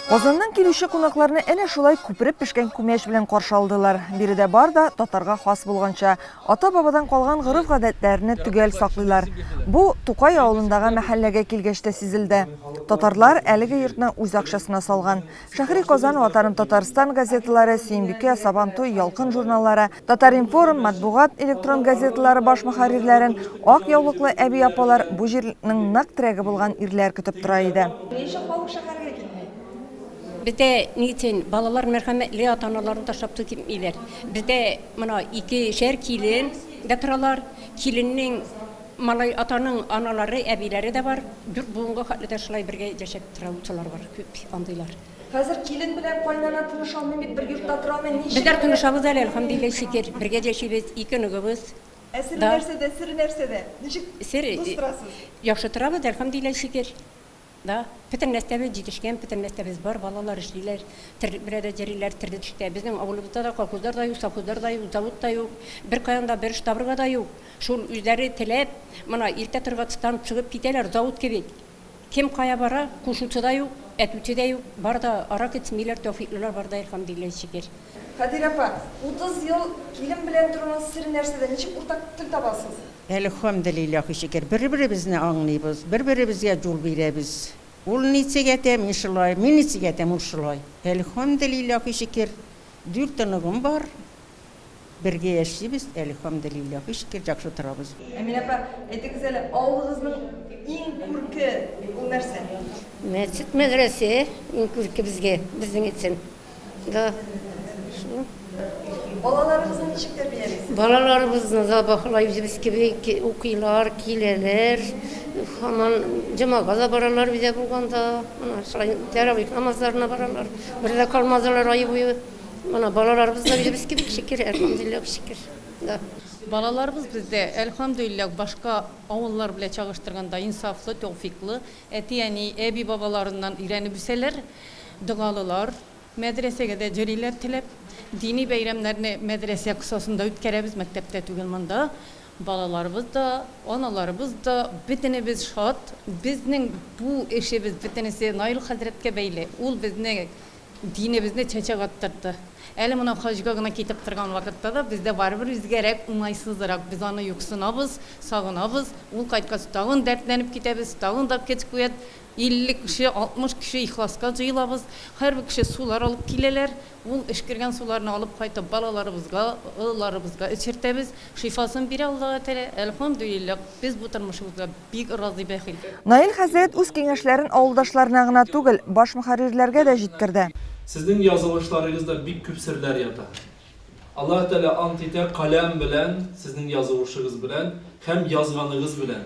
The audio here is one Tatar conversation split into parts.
Казаннан килүче кунакларны әнә шулай күпереп пешкән күмәч белән каршы алдылар. Биредә бар да татарга хас булганча, ата-бабадан калган гореф-гадәтләрне төгәл саклыйлар. Бу Тукай авылындагы мәхәлләгә килгәч тә сизелде. Татарлар әлеге йортны үз акчасына салган. Шәһри Казан, Ватаным Татарстан газеталары, Сөембикә, Сабантуй, Ялкын журналлары, Татар-информ, матбугат электрон газеталары баш мөхәррирләрен ак яулыклы әби-апалар бу җирлекнең нык терәге булган ирләр көтеп тора иде. Ни өчен халык шәһәргә китми? Бездә ни өчен балалар мәрхәмәтле, ата-аналарын ташлап туй китмиләр? Бездә мына икешәр килен дә торалар, киленнең малай, атаның аналары, әбиләре дә бар. Дүрт буынга хәтле дә шулай бергә яшәп тора, утыралар, күп андыйлар. Хәзер килен белән кайнана тыныш алмый бит, бер йортта тора алмый, ничек? Безләр тынышабыз әле, әлхәмдулиллаһ шөкер, бергә яшибез, ике оныгыбыз. Ә сере нәрсәдә, сере нәрсәдә? Ничек дус торасыз? Яхшы торабыз, әлхәмдулиллаһ шөкер. Да, бөтен нәрсәбез җитешкән, бөтен нәрсәбез бар, балалар эшлиләр, терлек белән дә йөриләр, терлек эштә. Безнең авылыбызда да колхозлар да юк, совхозлар да юк, завод та юк, беркаян да бер штабырга да юк. Шул үзләре теләп, мына иртә торгатстан чыгып китәләр, завод кебек. Кем кая бара, кушучы да юк, әтүче дә юк, бар да ара китмиләр, тәүфиклылар бар да, Әлхәмдүлилләһи шөкер. Хәдирә апа, утыз ел килен белән торуның сере нәрсәдә, ничек уртак тел табасыз? Әлхәмдүлилләһи шөкер, бер-беребезне аңлыйбыз, бер-беребезгә җул бирәбез. Ул ничек әйтә, мин шулай, мин ничек әйтәм, ул шулай. Әлхәмдүлилләһи шөкер, дүрт оныгым бар. Бергә яшибез, әлхәмделилла, һичкер яхшы торабыз. Әминә апа, әйтегез әле, авылыгызның иң күрке ул нәрсә? Мәчет, мәдрәсә иң күрке безгә, безнең өчен. Да, шул. Балаларыгызны ничек тәрбиялисез? Балаларыбызны да баһалай үзебез кеби укыйлар, киләләр. Һаман җомага да баралар, өйдә булганда. Менә шулай тәравих намазларына баралар. Бер дә калмадылар ай буе. Менә балаларыбыз да үзебез кебек шикер, әлхәмдүлилләһ шикер. Да. Балаларыбыз бездә, әлхәмдүлилләһ, башка авыллар белән чагыштырганда инсафлы, тәүфыйклы, әти-әни, әби-бабаларыннан өйрәнеп үсәләр, догалылар, мәдрәсәгә дә йөриләр теләп. Дини бәйрәмнәрне мәдрәсә кысасында үткәрәбез, мәктәптә түгел монда. Балаларыбыз да, аналарыбыз да, бөтенебез шат. Безнең бу эшебез бөтенесе Наил хәзрәткә бәйле. Ул безне Динебезне чәчәк аттырды. Әле менә хаҗга гына китеп торган вакытта да бездә барыбер үзгәрәк, уңайсызрак. Без аны юксынабыз, сагынабыз. Ул кайткач, тагын дәртләнеп китәбез, тагын да кет куят. 50 кеше, 60 кеше ихласка җыелабыз. Һәрбер кеше сулар алып киләләр. Ул эшкергән суларны алып кайтып, балаларыбызга, олыларыбызга эчертәбез. Шифасын бирә Аллаһы Тәгалә, әлхәмдүлилләһ. Без бу тормышыбызга бик разый, бәхил. Наил хәзрәт үз киңәшләрен авылдашларына гына түгел, баш мөхәррирләргә дә җиткерде. Сезнең язылышларыгызда бик күп серләр ята. Аллаһы Тәгалә ант итә, каләм белән, сезнең язылышыгыз белән һәм язганыгыз белән.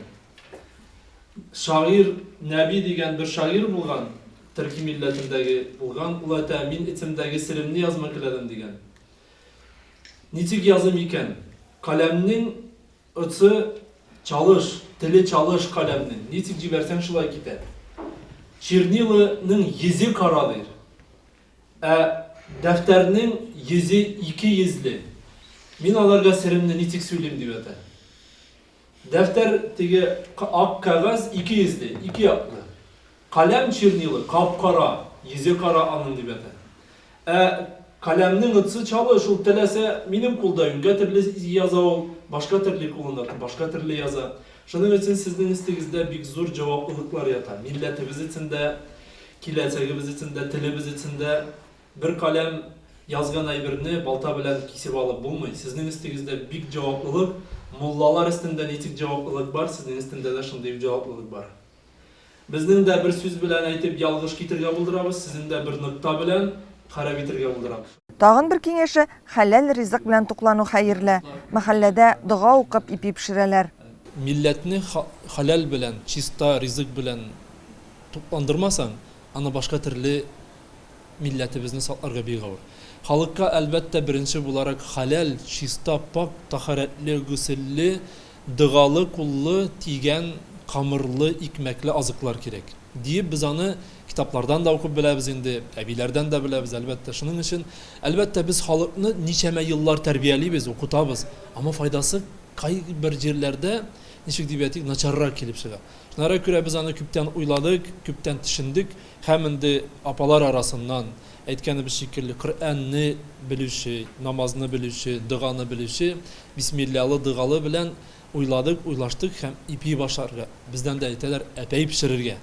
Шагыйрь Нәби дигән бер шагыйрь булган, төрки милләтендәге булган, ул әйтә, мин этемдәге серемне язма теләдем, дигән. Ничек языйм икән? Каләмнең очы чалыш, теле чалыш каләмнең, ничек җибәрсәң шулай китә. Черниланың йөзе кара дир. Ә дәфтәрнең йөзе ике йөзле. Мин аларга серемне ничек сөйлим дип әтә. Дәфтәр теге ак кәгазь ике йөзле, ике яклы. Каләм чернилы кап-кара, йөзе кара аның, дип ята. Ә каләмнең отцы чалы, шул теләсә минем кулда юньгә терле яза ул, башка терле кулында тып башка терле яза. Шуның өчен сезнең өстегездә бик зур җаваплылыклар ята, милләтебез өчен дә, киләчәгебез өчен дә, телебез өчен дә. Бер каләм язган әйберне балта белән кисеп алып булмый. Сезнең өстегездә бик җаваплылык, муллалар өстендә ничек җаваплылык бар, сезнең өстендә дә шундый ук җаваплылык бар. Безнең дә бер сүз белән әйтеп ялгыш китергә булдырабыз, сезнең дә бер нокта белән харап итергә булдырабыз. Тагын бер киңәше, хәләл ризык белән туклану хәерле. Мәхәлләдә дога укып ипи пешерәләр. Милләтне хәләл белән, чиста ризык белән тукландырмасаң, аны башка төрле Милләтебезне сакларга бик авыр. Халыкка, әлбәттә, беренче буларак хәләл, чиста, пакь, тәһарәтле, гөселле, догалы, куллы, тигән, камырлы, икмәкле азыклар кирәк. Диеп, без аны китаплардан да укып беләбез инде, әбиләрдән дә беләбез, әлбәттә. Шуның өчен, әлбәттә, без халыкны ничәмә еллар тәрбиялибез, укытабыз, әмма файдасы кайбер җирләрдә, ничек дип әйтик, начаррак килеп чыга. Шуңарга күрә без аны күптән уйладык, күптән төшендек. Һәм инде апалар арасыннан, әйткәнебез шикелле, Коръәнне белүче, намазны белүче, доганы белүче, бисмиллялы-догалы белән уйладык, уйлаштык һәм ипи башарга, бездән дә әйтәләр, әпәй пешерергә.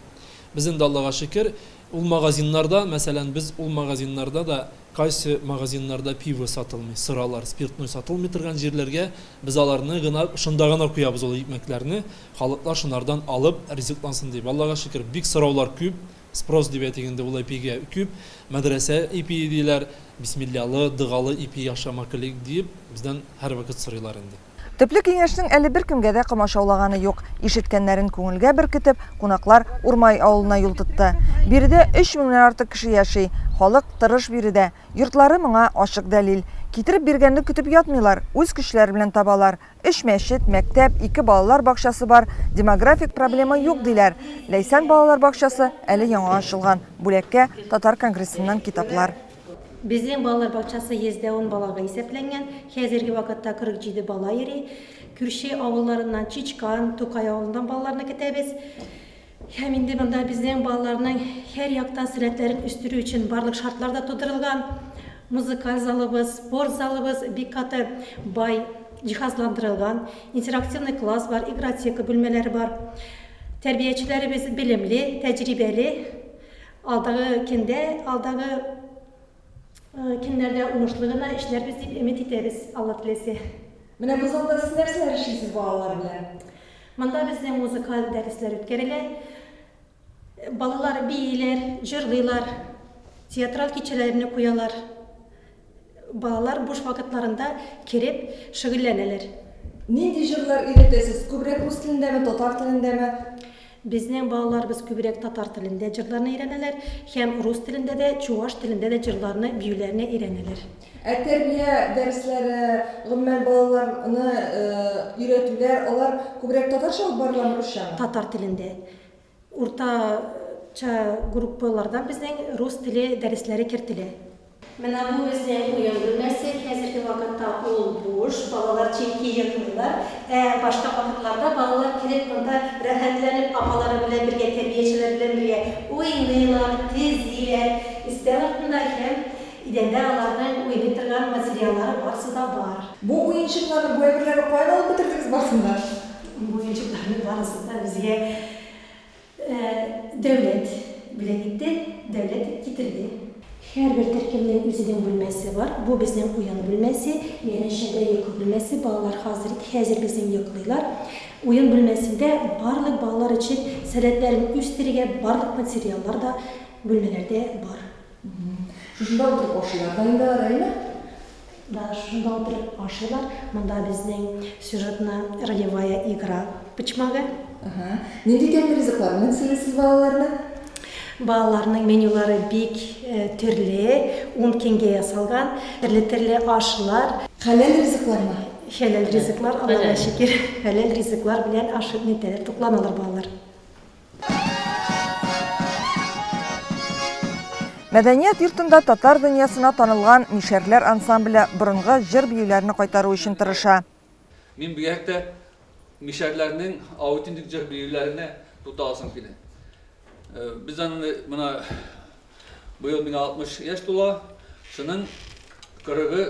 Без инде, Аллага шөкер, ул магазиннарда, мәсәлән, без ул магазиннарда да, кайсы магазиннарда пиво сатылмый, сыралар, спиртной сатылмый торган җирләргә, без аларны гына, шунда гына куябыз ул икмәкләрне. Халыклар шунардан алып ризыклансын дип. Аллага шөкер, бик сораулар күп, спрос дип әйтик инде, ул ипигә күп. Мәдрәсә ипие диләр, бисмиллялы, догалы ипи яхшы макли диеп, бездән һәрвакыт сорыйлар инде. Төпле киңәшнең әле беркемгә дә комачаулаганы юк. Ишеткәннәрен күңелгә беркетеп, кунаклар Урмай авылына юл тотты. Биредә өч меңнән артык кеше яши. Халык тырыш биредә. Йортлары моңа ачык дәлил. Китереп биргәнне көтеп ятмыйлар, үз көчләре белән табалар. Өч мәчет, мәктәп, ике балалар бакчасы бар, демографик проблема юк, диләр. Ләйсән балалар бакчасы әле яңа ачылган. Бүләккә, татар конгрессыннан китаплар. Безнең балалар бакчасы 110 балага исәпләнгән, хәзерге вакытта 47 бала йөри. Күрше авылларыннан, Чичкан, Тукай авылыннан балаларны көтәбез. Һәм инде монда безнең балаларның һәр яктан сәләтләрен үстерү өчен барлык шартлар да тудырылган. Музыкаль залыбыз, спорт залыбыз бик каты бай җиһазландырылган. Интерактивный класс бар, игротека бүлмәләре бар. Тәрбиячеләребез белемле, тәҗрибәле. Алдагы көндә, алдагы көннәрдә уңышлы гына эшләрбез дип өмет итәбез, Алла теләсә. Менә бу залда сез нәрсәләр эшлисез балалар белән? Монда бездә музыкаль дәресләр үткәрелә. Балалар бииләр, җырлыйлар, театраль кичәләрне куялар. Балалар буш вакытларында кереп шөгыльләнәләр. Нинди җырлар өйрәтәсез, күбрәк рус телендәме, татар телендәме? Безнең балаларыбыз күбрәк татар телендә җырларны өйрәнәләр һәм рус телендә дә, чуваш телендә дә җырларны, биюләрне өйрәнәләр. Ә тәрбия дәресләре, гомумән, балаларны өйрәтүләр, алар күбрәк татарча алып барыламы, русчамы? Татар телендә. Уртача группалардан безнең рус теле дәресләре кертелә. Менә бу үзенең уен бүлмәсе, хәзерге вакытта ул буш, балалар читкә йоклыйлар. Ә башка вакытларда балалар килеп монда рәхәтләнеп апалары белән бергә, тәрбиячеләр белән бергә уйныйлар, тезиләр. Өстәл артында һәм идәндә аларның уйный торган материаллары барысы да бар. Бу уенчыкларны, бу әйберләрне каян алып бетердегез барысын да? Бу уенчыкларның барысын да безгә Ә дәүләт бүләк итте, дәүләт китерде. Һәрбер төркемнең үзенең бүлмәсе бар. Бу безнең уен бүлмәсе, янәшәдә йокы бүлмәсе, балалар хазер хәзер безнең йоклыйлар. Уен бүлмәсендә барлык балалар өчен сәләтләрен үстерергә барлык материаллар да бүлмәләрдә бар. Шушында утырып ашыйлар да инде ары, әйме? Да, шушында утырып ашыйлар. Монда безнең сюжетны ролевая игра почмагы. Ага. Нинди тәмле ризыклар белән сыйлыйсыз балаларны? Балаларның менюлары бик э, төрле, ун кенгә ясалган, төрле-төрле ашлар. Хәләл ризыклармы? Хәләл ризыклар, Аллага шөкер, хәләл ризыклар белән ашып нетәләр, тукланалар балалар. Мәдәният йортында татар дөньясына танылган Мишәрләр ансамбле борынгы җыр-биюләрне кайтару өчен тырыша. Мин бигрәк тә мишәрләрнең аутентик җыр-биюләренә тукталасым килә. Без аны менә Быел миңа 60 яшь тула. Шуның 40-ы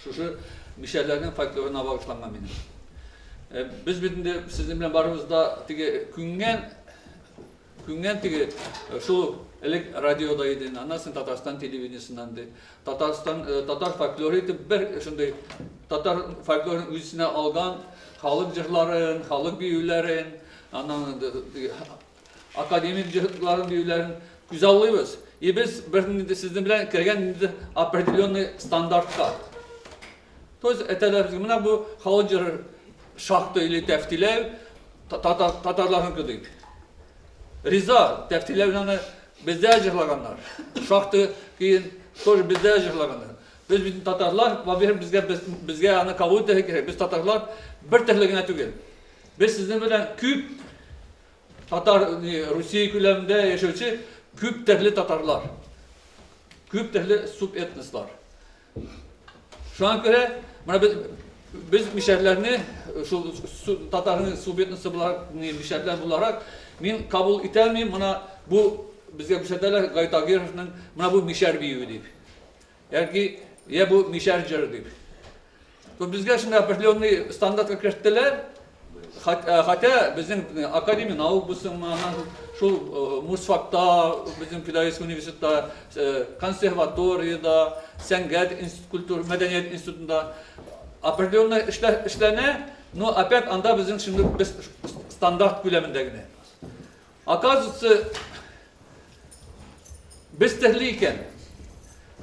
шушы мишәрләрнең фольклорына багышланган минем. Э, без бит инде сезнең белән барыбыз да теге күнгән күнгән теге э, шул элек радиода иде, аннан соң Татарстан телевидениесеннән ди. Татарстан э, татар фольклоры итеп бер шундый татар фольклорын үзенә алган халык җырларын, халык биюләрен, аннан академик җыһтларын биюләрен күзаллыйбыз и без бер нинди сезнең белән кергән нинди определенный стандартка то есть әтәләребез менә бу халык җыры шахта или тәфтиләү татарларныкы дип риза тәфтиләүне аны бездә җырлаганнар шахта киен тоже бездә җырлаганнар без бит татарлар во первых безгә безгә аны кабул итәргә кирәк без татарлар бер төрле генә түгел без сезнең белән күп Татар, Русия күләмендә яшәүче күп төрле татарлар, күп төрле субэтнослар. Шуңа күрә, менә без без мишәрләрне шул татарның субэтносы буларак, мишәрләр буларак мин кабул итә алмыйм, менә бу безгә күрсәтәләр Гайтагировның менә бу мишәр биюе дип. Яки я бу мишәр җыры дип. То безгә шуны определенный стандартка керттеләр. Хотя безнең академия наук булсынмы, шул Мусфакта, безнең педагогический университетта, консерваториядә, сәнгать институт, культура, мәдәният институтында определенный эшләр эшләнә, но опять анда безнең шундый без стандарт күләмендә генә. Оказывается, без терле икән.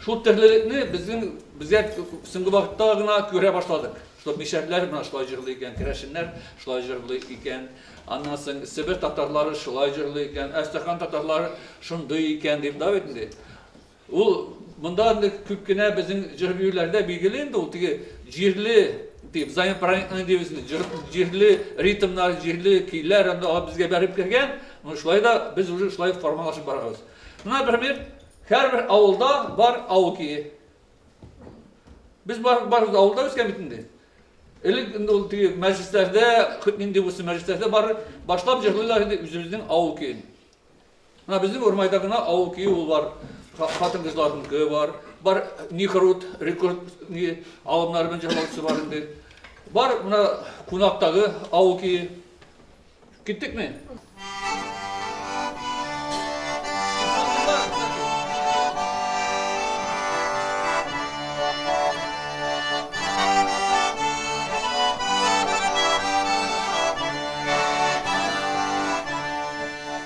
Шул терлелекне безнең безгә соңгы вакытта гына күрә башладык. Что мишәрләр менә шулай җырлый икән, керәшеннәр шулай җырлый икән. Аннан соң Себер татарлары шулай җырлый икән, Әстерхан татарлары шундый икән дип, да бит инде. Ул монда инде күп кенә безнең җыр-биюләрдә билгеле инде ул теге җирле дип, взаимопроникновение дибез инде, җыр, җирле ритмнар, җирле көйләр анда алып безгә бәреп кергән. Менә шулай да без уже шулай формалашып барабыз. Менә бермир, һәрбер авылда бар авыл көе. Без бар, барыбыз да авылда үскән бит инде. Элек инде ул теге мәҗлесләрдә, нинди булсын мәҗлесләрдә бар, башлап җырлыйлар иде үзебезнең авыл көен. Менә безнең Урмайда гына авыл көе ул бар, хатын-кызларныкы бар, бар Нихрут, Рекорд ни алымнары белән җырлаучысы бар инде. Бар менә Кунактагы авыл көе. Киттекме?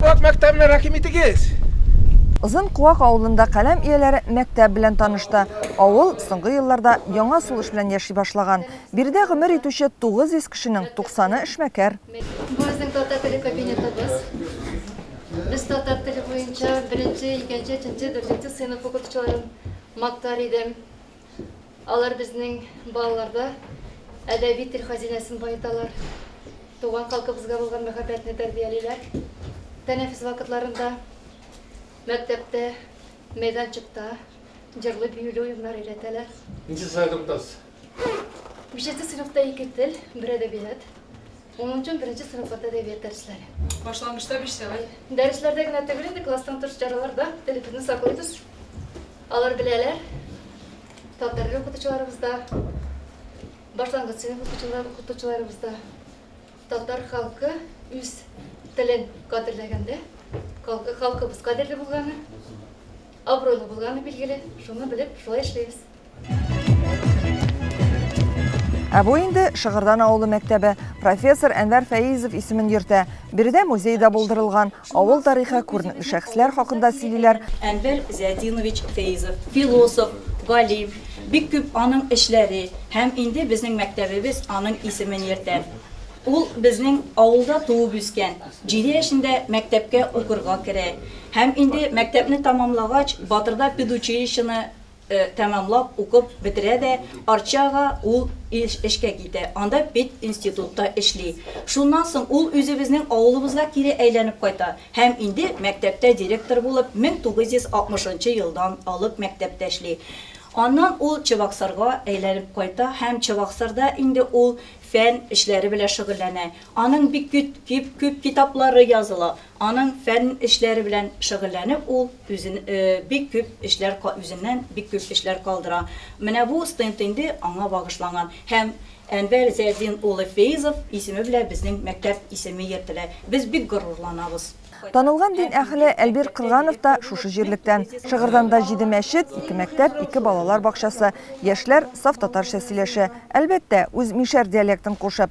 Вак мәктәбенә рәхим итегез! Озын Куак авылында каләм ияләре мәктәп белән танышты. Авыл соңгы елларда яңа сулыш белән яши башлаган. Биредә гомер итүче 900 кешенең 90-ы эшмәкәр. Бу безнең татар теле кабинетыбыз. Без татар теле буенча беренче, икенче, өченче, дүртенче сыйныф укытучыларын мактар идем. Алар безнең балаларда әдәби тел хазинәсен баеталар, туган халкыбызга булган мәхәббәтне тәрбиялиләр. Тәнәфес вакытларында, мәктәптә, мәйданчыкта җырлый-биюле уеннар өйрәтәләр. Ничә сыйныфтасыз? Бишенче сыйныфта ике тел, бер әдәбият. Моның өчен беренче сыйныфларда әдәбият дәресләре. Башлангычта биш сәгать. Дәресләрдә генә түгел инде, класстан тыш чараларда телебезне саклыйбыз. Алар беләләр. Татар теле укытучыларыбыз да, башлангыч сыйныф укытучылар, укытучыларыбыз да. Татар халкы үз телен кадерләгәндә, халкы, халкыбыз кадерле булганы, абруйлы булганы билгеле. Шуны белеп, шулай эшлибез. Ә бу инде Шыгырдан авылы мәктәбе. Профессор Әнвәр Фәизов исемен йөртә. Биредә музей да булдырылган. Авыл тарихы, күренекле шәхесләр хакында сөйлиләр. Әнвәр Зиятдинович Фәизов, философ, галим, бик күп аның эшләре һәм инде безнең мәктәбебез аның исемен йөртә. Ул безнең авылда туып үскән. Җиде яшендә мәктәпкә укырга керә. Һәм инде мәктәпне тәмамлагач, Батырда педучилищены тәмамлап укып бетерә дә Арчага ул эшкә китә, анда пединститутта эшли. Шуннан соң ул үзебезнең авылыбызга кире әйләнеп кайта һәм инде мәктәптә директор булып 1960 нчы елдан алып мәктәптә эшли. Аннан ул Чабаксарга әйләнеп кайта һәм Чабаксарда инде ул фән эшләре белән шөгыльләнә. Аның бик күп китаплары языла. Аның фән эшләре белән шөгыльләнеп ул үзен бик күп эшләр үзеннән бик күп эшләр калдыра. Менә бу стенд инде аңа багышланган һәм Әнвәр Зәйдин улы Фейзов исеме белән безнең мәктәп исеме йөртелә. Без бик горурланабыз. Танылган дин әһеле Әлбир Кырганов та шушы җирлектән. Шыгырданда җиде мәчет, ике мәктәп, ике балалар бакчасы, яшьләр саф татарча сөйләшә. Әлбәттә, үз мишәр диалектын кушып.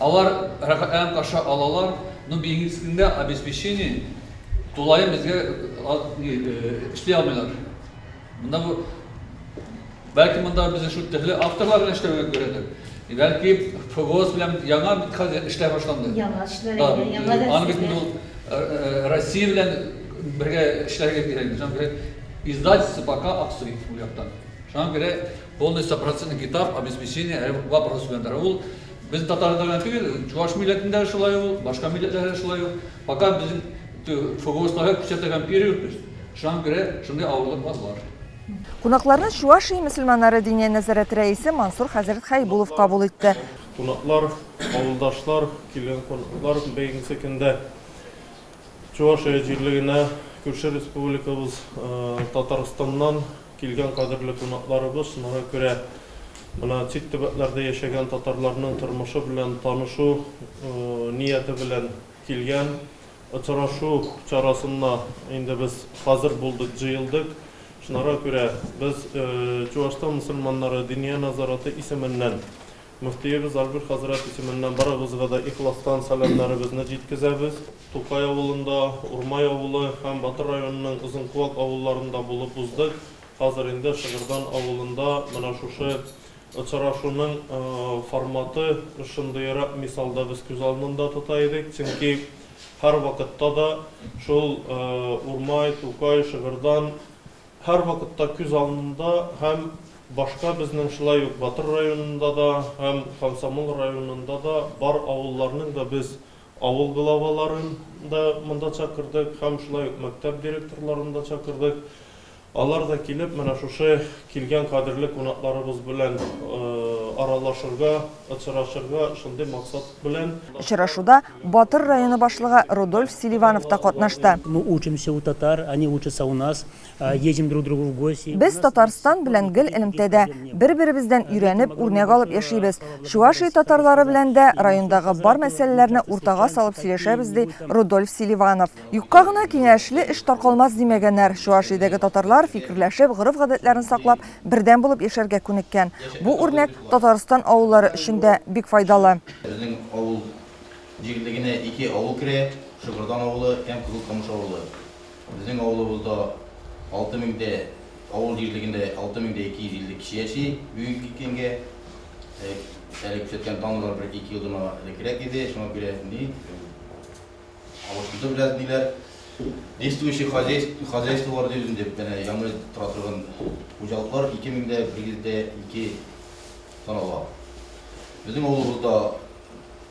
Алар рәхәтләнеп каршы алалар, но медицинскийда обеспечение тулаем безгә эшли алмыйлар. Монда бу бәлки монда безне шул төрле авторлар белән эшләүгә күрәдер. Бәлки ФГОС белән яңа бит хәзер эшләр башланды. Яңа эшләр, Да, әйе, яңа дәрес. аны бит инде ул э, э, Россия белән бергә эшләргә кирәк. Шуңа күрә издательство пока аксый ул яктан. Шуңа күрә Полный стопроцентный китап обеспечение әле вопрос белән тора. Ул без татарлар гына түгел, чуваш милләтендә дә шулай ул, башка милләтләрдә дә шулай ул. Пока безнең ФГОСларга күрсәтә һәм пирюрпез. Шуңа күрә шундый авырлыклар бар. Кунакларны Чуашия мөселманнары Диния нәзарәте рәисе Мансур хәзрәт Хәйбулов кабул итте. Кунаклар, авылдашлар, килгән кунаклар бәйгесе көндә Чувашия җирлегенә күрше республикабыз Татарстаннан Килгән кадерле кунакларыбыз шуңа күрә менә чит төбәкләрдә яшәгән татарларның тормышы белән танышу нияте белән килгән. Очрашу чарасына инде без хәзер булдык, җыелдык. Шунара күрә без Чуашстан мөселманнары Диния назараты исеменнән Мөфтиебез Альберт хәзрәт исеменнән барыгызга да ихластан сәламнәребезне җиткезәбез. Тукай авылында, Урмай авылы һәм Батыр районының Озынкуак авылларында булып уздык. Хәзер инде Шыгырдан авылында менә шушы очрашуның форматы шундыерак мисалда без күз алдында тота идек. Чөнки һәрвакытта да шул Урмай, Тукай, Шыгырдан Һәрвакытта күз алдында һәм башка безнең шулай ук Батыр районында да һәм Комсомол районында да бар авылларның да без авыл главаларын да монда чакырдык һәм шулай ук мәктәп директорларын да чакырдык. Алар да килеп менә шушы килгән кадерле кунакларыбыз белән аралашырга, очрашырга шундый максат белән. Очрашуда Батыр районы башлыгы Рудольф Селиванов та катнашты. Мы учимся у татар, они учатся у нас, едем друг к другу в гости. Без Татарстан белән гел элемтәдә, бер-беребездән өйрәнеп, үрнәк алып яшибез. Чувашия татарлары белән дә райондагы бар мәсьәләләрне уртага салып сөйләшәбез, ди Рудольф Селиванов. Юкка гына киңәшле эш таркалмас димәгәннәр. Чуашиядәге татарлар, фикерләшеп, гореф-гадәтләрен саклап, бердәм булып яшәргә күнеккән. Бу үрнәк Татарстан авыллары өчен дә бик файдалы. Безнең авыл. җирлегенә ике авыл керә, Шыгырдан авылы һәм Кызыл Камыш авылы. Безнең авылыбызда 6 мең дә, авыл җирлегендә 6 мең дә 250 кеше яши бүгенге көнгә. Әле күрсәткән данлар бер ике елдан элекрәк иде, шуңа күрә ни, алышынды бераз ниләр. Действующий хозяйство, хозяйстволар дибез инде, әнә яңа тора торган хуҗалыклар 2 мең дә 152 санала. Безнең авылыбызда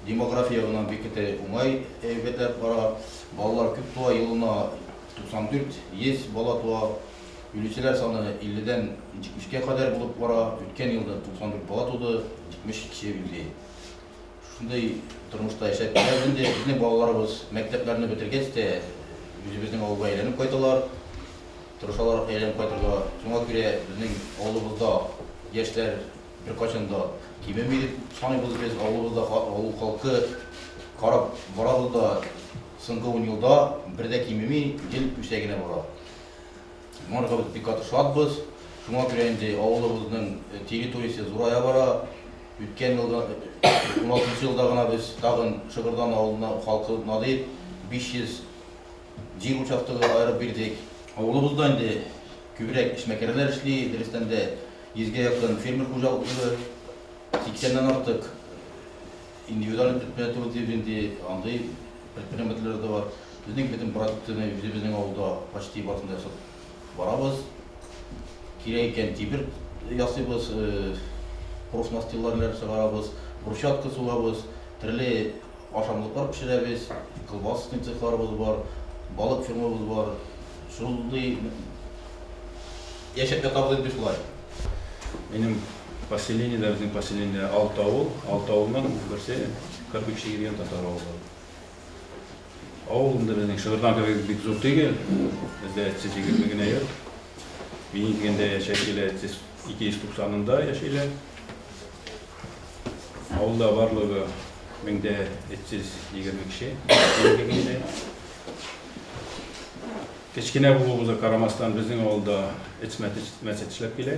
Демография ягыннан бик тә уңай әйберләр бара. Балалар күп туа, елына 94, 100 бала туа. Үлүчеләр саны 50 дән 70 кә кадәр булып бара. Үткән елда 94 бала туды, 70 кеше үлде. Шушындый тормышта яшәп киләбез инде. Безнең балаларыбыз мәктәпләрне бетергәч тә үзебезнең авылга әйләнеп кайталар. Тырышалар әйләнеп кайтырга. Шуңа күрә безнең авылыбызда яшьләр Беркайчан да кимеми дип саныйбыз без. Авылыбызда авыл халкы карап барабыз да, соңгы ун елда бер дә кимеми, ел үсә генә бара. Моңарга без бик каты шатбыз. Шуңа күрә инде авылыбызның территориясе зурая бара. Үткән елда, уналтынчы елда гына без тагын Шыгырдан авылына халкы надир, 500. Җир участогы аерып бирдек. Авылыбызда инде күбрәк эшмәкәрләр эшли, дөрестән дә, йөзгә якын фермер хуҗалыклары, сиксәннән артык индивидуаль предприятиеләр дибез инде, андый предпринимательләр дә бар. Безнең бөтен продукцияне үзебезнең авылда почти барысын да ясадык. Барабыз, кирәк икән тимер ясыйбыз, профнастилларнер чыгарабыз, брусчатка сугабыз, төрле ашамлыклар пешерәбез, колбасный цехларыбыз бар, балык фермабыз бар. Шундый яшәп ятабыз инде шулай. Минем поселение дә, безнең поселение алты авыл, алты авылның берсе кырпичный дигән татар авылы. Авыл инде безнең Шыгырдан кебек бик зур түгел. Бездә эт-сөт егерме генә йорт. Минем дигәндә яшәүчеләр эт-сөт ике йөз туксанында яшиләр. Авылда барлыгы меңдә эт-сөт егерме кеше, минем дигәндә. Кечкенә булуыбызга карамастан, безнең авылда эт-мәсет эшләп килә.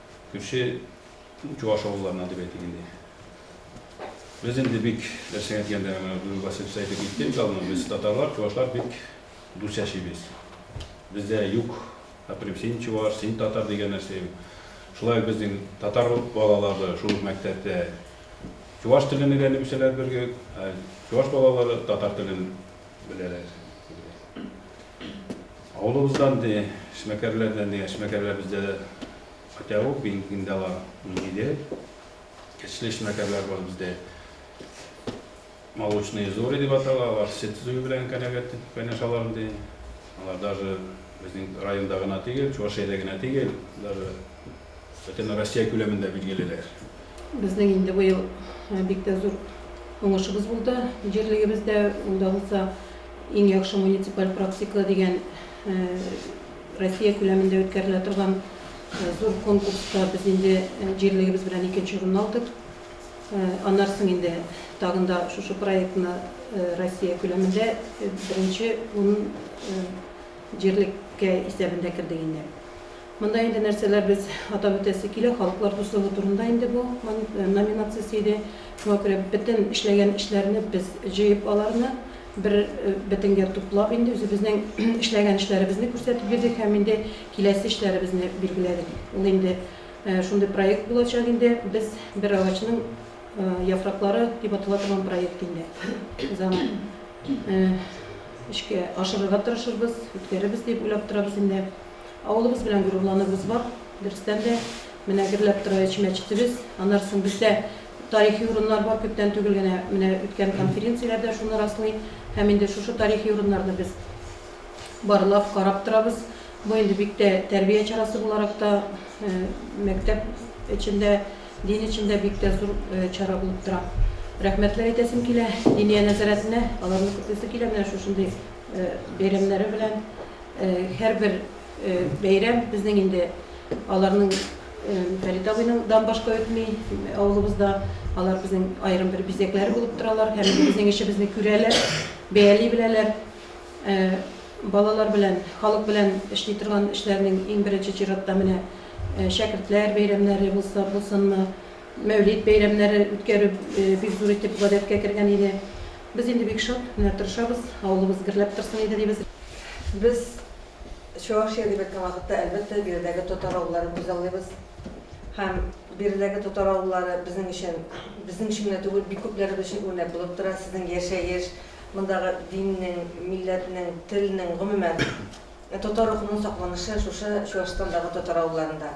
Кеше чуаш авылларыннан дип әйтик инде. Без инде бик нәрсәгә дигәндә, бүген Василий Псай әйтеп китте бит алдан, без татарлар, чуашлар бик дус яшибез. Бездә юк, әфәрим, син чуаш, син татар дигән нәрсә юк. Шулай ук безнең татар балалары шул ук мәктәптә чуаш телен өйрәнеп үсәләр бер гел, ә чуаш балалары татар телен Беләләр. Авылыбыздан ди, эшмәкәрләрдән дигән эшмәкәрләр бездә көтәве бинкиндә бар. Ниде? Кечле эшмәкәрләр бар бездә. Молочные зори дип атала, алар сөт зуй белән кәнәгәт кайнашалар ди. Алар даже безнең районда гына түгел, Чувашиядә генә түгел, даже Бөтенроссия күләмендә билгелеләр. Безнең инде быел бик тә зур уңышыбыз булды җирлегебездә. Ул да булса Иң яхшы муниципаль практика дигән Россия күләмендә үткәрелә торган зур конкурста без инде җирлегебез белән икенче урынны алдык. Аннан соң инде тагын да шушы проектны Россия күләмендә беренче ун җирлеккә исәбендә кердек инде. Монда инде нәрсәләр без атап үтәсе килә, халыклар дуслыгы турында инде бу номинациясе иде. Шуңа күрә бөтен эшләгән эшләрне без җыеп аларны бер бетенгә туплап инде үзебезнең эшләгән эшләребезне күрсәтеп бирдек һәм инде киләсе эшләребезне билгеләдек. Ул инде шундый проект булачак инде, без бер агачның яфраклары дип атала торган проект инде. Без аны эшкә ашырырга тырышырбыз, үткәрербез дип уйлап торабыз инде. Авылыбыз белән горурланабыз бар. Дөрестән дә, менә гөрләп тора өч мәчетебез. Аннары соң бездә тарихи урыннар бар, күптән түгел генә менә үткән конференцияләр дә шуны раслый. Һәм инде шушы тарихи урыннарны без барлап, карап торабыз. Бу инде бик тә тәрбия чарасы буларак та, мәктәп эчендә, дин эчендә бик тә зур чара булып тора. Рәхмәтләр әйтәсем килә Диния нәзарәтенә, аларны көтәсе килә менә шушындый бәйрәмнәре белән. Һәрбер бәйрәм безнең инде аларның Фәрит абыйның дан башка үтми авылыбызда. Алар безнең аерым бер бизәкләре булып торалар һәм безнең эшебезне күрәләр, бәяли беләләр. Балалар белән, халык белән эшли торган эшләрнең иң беренче чиратта менә шәкертләр бәйрәмнәре булса булсынмы, Мәүлид бәйрәмнәре үткәрү бик зур итеп гадәткә кергән иде. Без инде бик шат, менә тырышабыз, авылыбыз гөрләп торсын иде дибез. Без Чувашия дип әйткән вакытта, әлбәттә, биредәге татар авылларын күзаллыйбыз. Һәм биредәге татар авыллары безнең өчен, безнең өчен генә түгел, бик күпләребез өчен үрнәк булып тора. Сезнең яшәеш, мондагы диннең, милләтнең, телнең, гомумән, татар рухының сакланышы шушы Чуашстандагы татар авылларында.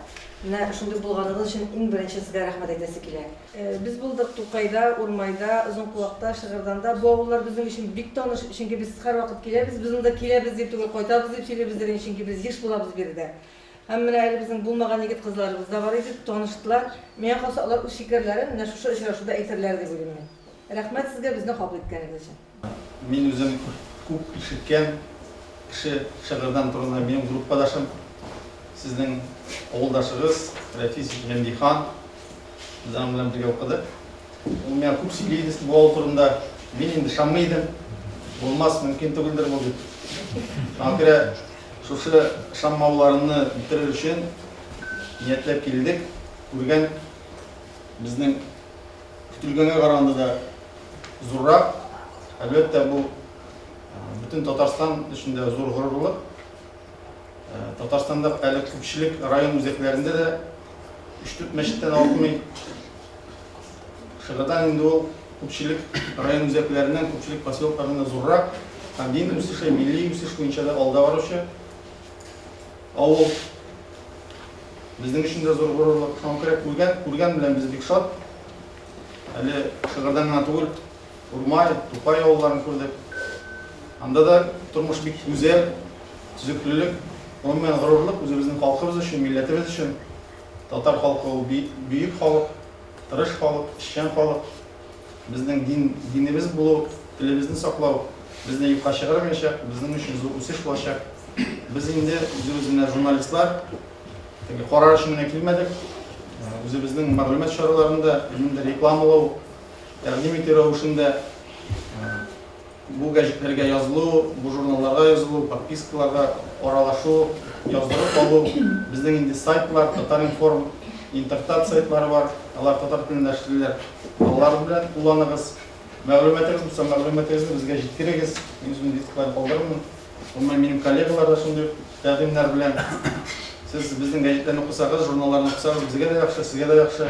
Менә шундый булганыгыз өчен иң беренче сезгә рәхмәт әйтәсе килә. Без булдык Тукайда, Урмайда, Озынкулакта, Шыгырданда. Бу авыллар безнең өчен бик таныш, чөнки без һәрвакыт киләбез. Без монда киләбез дип түгел, кайтабыз дип сөйлибездер инде, чөнки без еш булабыз биредә. Һәм менә әле безнең булмаган егет-кызларыбыз да бар иде, таныштылар. Миңа калса, алар үз фикерләрен менә шушы очрашуда әйтерләр дип уйлыйм мин. Рәхмәт сезгә безне кабул иткәнегез өчен. Мин үзем күп ишеткән кеше шыгырдан турында минем группадашым, сезнең авылдашыгыз Рәфис Гәмдихан. Без аның белән бергә укыдык. Ул миңа күп сөйли иде бу авыл турында. Мин инде ышанмый идем. Булмас, мөмкин түгелдер бу дип. Шуңа күрә шушы ышанмауларымны бетерер өчен ниятләп килдек. Күргән безнең Көтелгәнгә караганда да зуррак. Әлбәттә, бу бөтен Татарстан өчен дә зур горурлык. Татарстанда әле күпчелек район үзәкләрендә дә өч-дүрт мәчеттән артмый. Шыгырдан инде ул күпчелек район үзәкләреннән, күпчелек поселокларында зуррак. Һәм дин үсеше, милли үсеш буенча да алда баручы. Ә ул безнең өчен дә зур горурлык. Соңгы керәк күргән, күргән белән без бик шат. Әле Шыгырдан гына түгел, Урмай, Тукай авылларын күрдек. Анда да тормыш бик гүзәл, төзеклелек, гомумән, горурлык үзебезнең халкыбыз өчен, милләтебез өчен. Татар халкы ул бөек халык, тырыш халык, эшчән халык. Безнең дин, динебез булу, телебезне саклау безне юкка чыгармаячак, безнең өчен зур үсеш булачак. Без инде үзебез менә журналистлар, теге карар өчен генә килмәдек. Үзебезнең мәгълүмат чараларында, ниндидер рекламалау, тәкъдим итү рәвешендә Бу гәҗитләргә язылу, бу журналларга язылу, подпискаларга аралашу, яздырып алу, безнең инде сайтлар, Татар-информ, Интертат сайтлары бар, алар татар телендә эшлиләр, алар белән кулланыгыз. Мәгълүматыгыз булса, мәгълүматыгызны безгә җиткерегез, мин үземнең дискларны калдырырмын. Гомумән, минем коллегалар да шундый ук тәкъдимнәр белән. Сез безнең гәҗитләрне укысагыз, журналларны укысагыз, безгә дә яхшы, сезгә дә яхшы.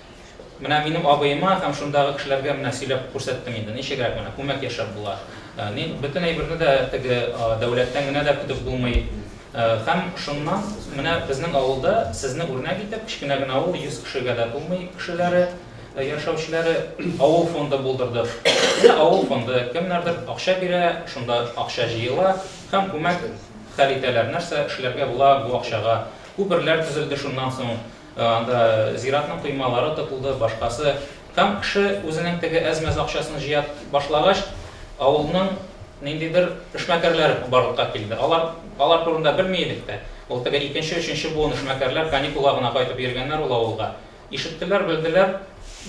Менә минем абыема һәм шундагы кешеләргә менә сөйләп күрсәттем инде, ничегрәк менә күмәк яшәп була. Ни, бөтен әйберне дә теге дәүләттән генә дә көтеп булмый. Һәм шуннан менә безнең авылда сезне үрнәк итеп, кечкенә генә авыл, 100 кешегә дә тулмый кешеләре, яшәүчеләре, авыл фонды булдырдык. Менә авыл фонды, кемнәрдер акча бирә, шунда акча җыела һәм күмәк хәл итәләр. Нәрсә эшләргә була бу акчага? Күперләр төзелде шуннан соң. Анда зиратның коймалары тотылды, башкасы. Һәм кеше үзенең теге әз-мәз акчасын җыя башлагач, авылның ниндидер эшмәкәрләре барлыкка килде. Алар, алар турында белми идек тә. Ул теге икенче, өченче буын эшмәкәрләр каникулга гына кайтып йөргәннәр ул авылга. Ишеттеләр, белделәр,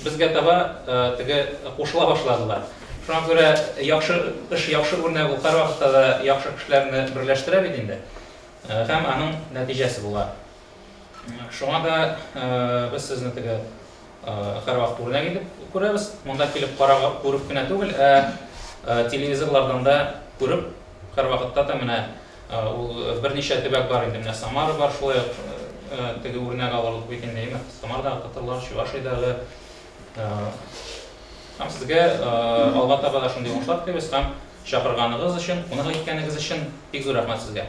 безгә таба теге кушыла башладылар. Шуңа күрә яхшы эш, яхшы үрнәк ул һәрвакытта да яхшы кешеләрне берләштерә бит инде. Һәм аның нәтиҗәсе була. Шуңа да без сезне теге һәрвакыт үрнәк итеп күрәбез. Монда килеп карап, күреп кенә түгел, ә телевизорлардан да күреп, һәрвакытта да менә ул берничә төбәк бар инде, менә Самара бар, шулай ук теге үрнәк алырлык бит инде, әйеме? Самарадагы татарлар, Чувашиядәге. Һәм сезгә алга таба да шундый уңышлар телибез һәм чакырганыгыз өчен, кунак иткәнегез өчен бик зур рәхмәт сезгә.